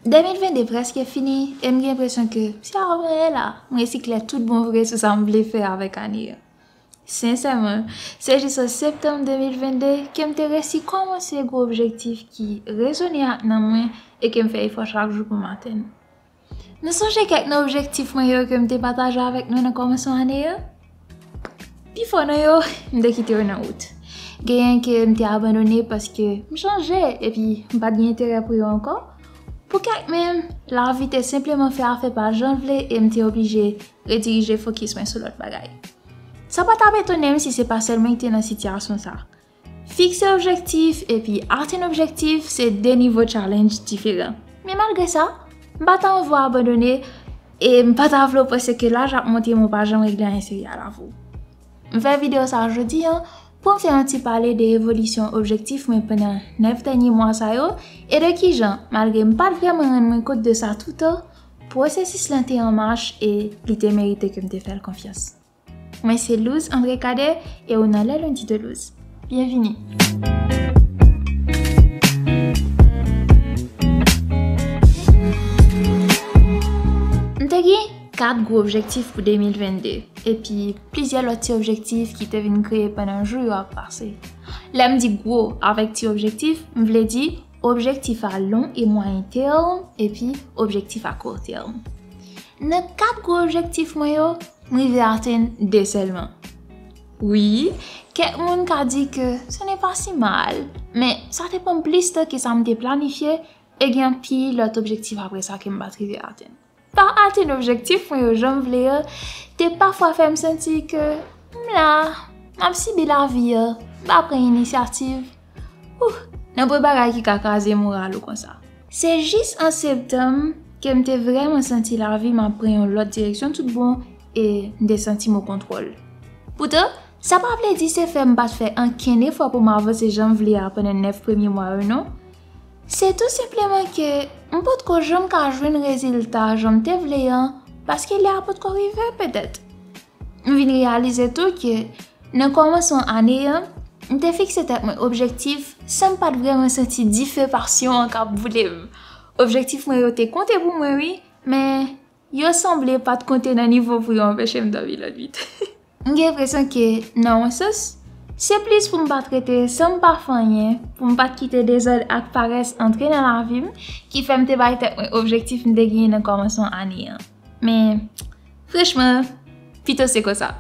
2022 prèske fini e m gen enpresyon ke se avè mwen ye la. M resi klè tout bon vre sou sa m vle fè avèk ane an. Sensèman, se jis an septanm 2022 ke m te resi kòmanse gwo objektif ki rezone ak nan mwen e ke m fè efò chak jou pou m atenn. Nou sonje kèk nan objektif mwen yo ke m te pataje avèk nou nan kòmansman ane an? Pi fò nan yo, m te kite yo nan wout. Genyen ke m te abandone paske m chanje epi m pa t gen enterè pou yo ankò. Pou kèk menm, lavi te senpleman fè afè pa jan l vle e m te oblije redirije fokis mwen sou lòt bagay. Sa pa t ap etone m si se pa sèl mwen ki te nan sitiyasyon sa. Fikse objektif epi atenn objektif se 2 nivo challenge diferan. Men malgre sa, m pa ta anvo abandone e m pa ta vle w panse ke laj ap monte men w pa janm regle anyen serye alavou. M fè videyo sa jodi an pou m fè yon ti pale de evolisyon objektif mwen pandan 9 dènye mwa sa yo e de kijan, malgre m pa t vrèman rann mwen kont de sa toutan, pwosesis lan te an mach e li te merite ke m te fè l konfyans. Mwen se Luz André Cadet e ou nan Le Lundi de Luz. Byenvini! M te gen 4 gwo objektif pou 2022, epi plizyè lòt ti objektif ki te vin kreye pandan jou yo ap pase. Lè m di gwo avèk ti objektif, m vle di objektif a lon e mwayen tèm epi objektif a kout tèm. Nan 4 gwo objektif mwen yo, M rive atenn 2 sèlman. Wi, kèk moun ka di ke se ne pa si mal, men sa te pran m plis tan ke sa m te planifye e gen anpil lòt objektif apre sa ke m pa t rive atenn. Pa atenn objektif mwen yo jan m vle yo te pafwa fè m santi ke m la, m ap sibi lavi an, m pa pran inisyativ. Ouh! Nanpwen bagay ki ka kraze moral ou konsa. Se jis an septanm ke m te vrèman santi lavi m ap pran yon lòt direksyon tout bon e m te santi m o kontwòl. Poutan, sa pa vle di se fè m pa t fè ankenn efò pou m avanse jan m vle a pandan 9 premye mwa yo non. Se tou senpleman ke m potko janm ka jwenn rezilta jan m te vle an paske lè a potko rive petèt. M vin reyalize tou ke nan kòmansman ane an, m te fikse tèt mwen objektif san m pa t vrèman santi dife pasyon an k ap boule m. Objektif mwen yo te konte pou mwen wi, men yo sanble pa t konte nan nivo pou yo anpeche m dòmi lannuit. M gen enpresyon ke nan yon sans, se plis pou m pa t rete san m pa fè anyen, pou m pa t kite dezòd ak parès antre nan lavi m, ki fè m te bay tèt mwen objektif m te genyen nan kòmansman ane an. Men, franchman, pito se konsa.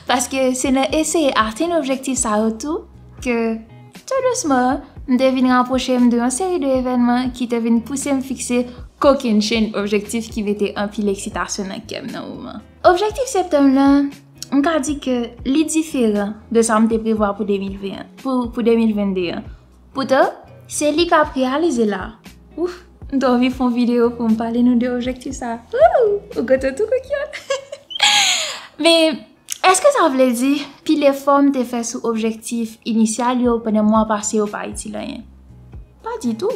Paske se nan eseye atenn objektif sa yo tou ke, tou dousman, m te vin ranpwoche m de yon seri de evènman ki te vin pouse m fikse kokennchenn objektif ki mete anpil eksitasyon nan kè m nan moman. Objektif septanm nan, m ka di ke li diferan de sa m te prevwa pou 2020 an, pou 2022 an. Poutan, se li kap reyalize la. Ouff, m ta anvi fè yon video pou m pale nou de objektif sa. Ooh! Ou kontan tou koukyan? Men, eske sa vle di pil efò m te fè sou objektif inisyal yo pandan mwa pase yo pa itil anyen? Pa ditou!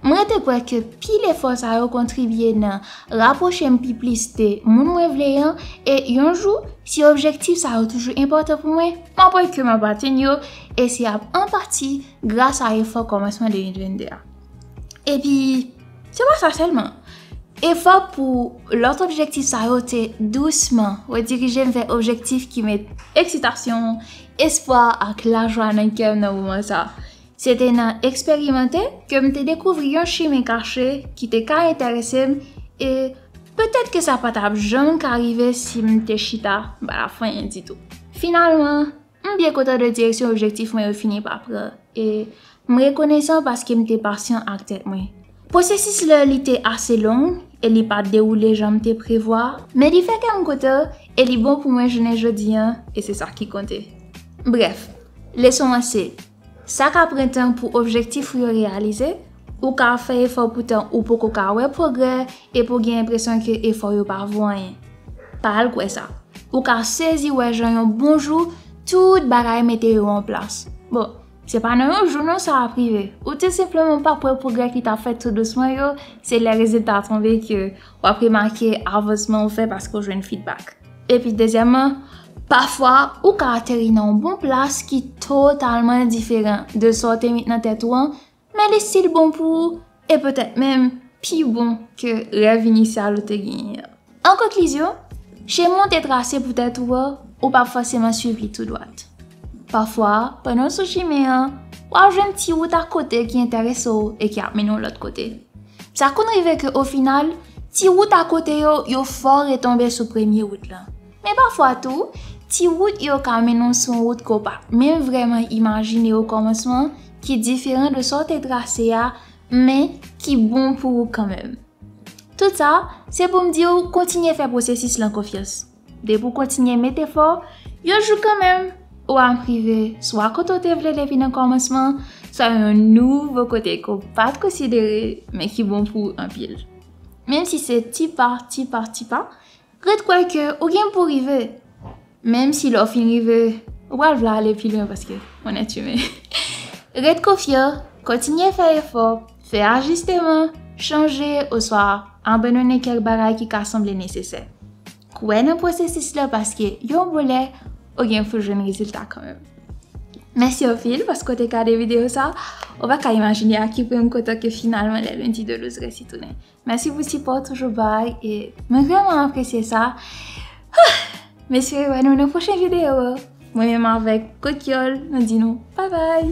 M rete kwè ke pil efò sa yo kontribye nan rapwoche m pi plis de moun mwen vle an, e yon jou, si objektif sa yo toujou enpòtan pou mwen, m ap wè ke m ap atenn yo, e se ap an pati gras a efò kòmansman 2022 a. Epi, se pa sa sèlman, efò pou lòt objektif sa yo te dousman redirije m vè objektif ki met eksitasyon, espwa ak lajwa nan kè m nan moman sa a. Se te nan eksperimante ke m te dekouvri yon chimen kache ki te ka enterese m e petèt ke sa pa t ap janm ka rive si m te chita balafrenyen ditou. Finalman, m byen kontan de direksyon objektif mwen yo fini pa pran e m rekonesan paske m te pasyan ak tèt mwen. Pwosesis la li te ase long e li pa t dewoule jan m te prevwa, men li fè kè m kontan e li bon pou mwen jounen jodi an e se sa ki konte. Brèf, leson an se. Sa ka pran tan pou objektif ou yo reyalize, ou ka ap fè efò poutan ou poko ka wè pwogrè epi ou gen enpresyon ke efò yo pa vo anyen. Pa al kwè sa. Ou ka sezi wè jan yon bon jou tout bagay mete yo an plas. Bon, se pa nan yon jou non sa ap rive. Ou te senpleman pa p wè pwogrè ki t ap fèt tou dousman yo, se lè rezilta a tonbe ke w ap remake avansman ou fè paske ou jwenn fidbak. Epi dezyèmman, pafwa ou ka ateri nan yon bon plas ki totalman diferan de sa w te met nan tèt ou an, men li stil bon pou ou e petèt menm pi bon ke rèv inisyal ou te genyen an. An konklizyon, chema w te trase pou tèt ou an, ou p ap fòseman suiv li tou dwat. Pafwa, pandan w sou chimen an, w ap jwenn ti wout akote ki enterese w e ki ap mennen w lòt kote. Sa konn rive ke ofinal, ti wout akote yo, yo fò retonbe sou premye wout lan. Men pafwa tou, ti wout yo ka mennen w sou yon wout ke w pa t menm vrèman imajine okòmansman, ki diferan de sa w te trase a, men ki bon pou ou kanmenm. Tout sa, se pou m di w, kontinye fè pwosesis lan konfyans. Depi w kontinye met efò, yon jou kanmenm, ou ap rive swa kote w te vle depi nan kòmansman, swa nan yon nouvo kote ke w pa t konsidere, men ki bon pou ou anpil. Menm si se ti pa, ti pa, ti pa, ret kwè ke ou gen pou w rive. Menm si lè w fin rive, ou pral vle ale pi lwen paske on èt imen. Ret konfyan, kontinye fè efò. Fè ajisteman, chanje, oswa abandone kèk bagay ki ka sanble nesesè. Kwè nan pwosesis la paske yon bon lè, ou gen pou jwenn rezilta kanmenm. Mèsi anpil paske ou te gade videyo sa. Ou pa ka imajine a ki pwen m kontan ke finalman lè Lundi de Luz resi tounen. Mèsi pou sipò toujou bay e mwen vrèman apresye sa. M espere wè nou nan pwochen videyo. Mwen menm avèk Kokyòl nou di nou bay bay!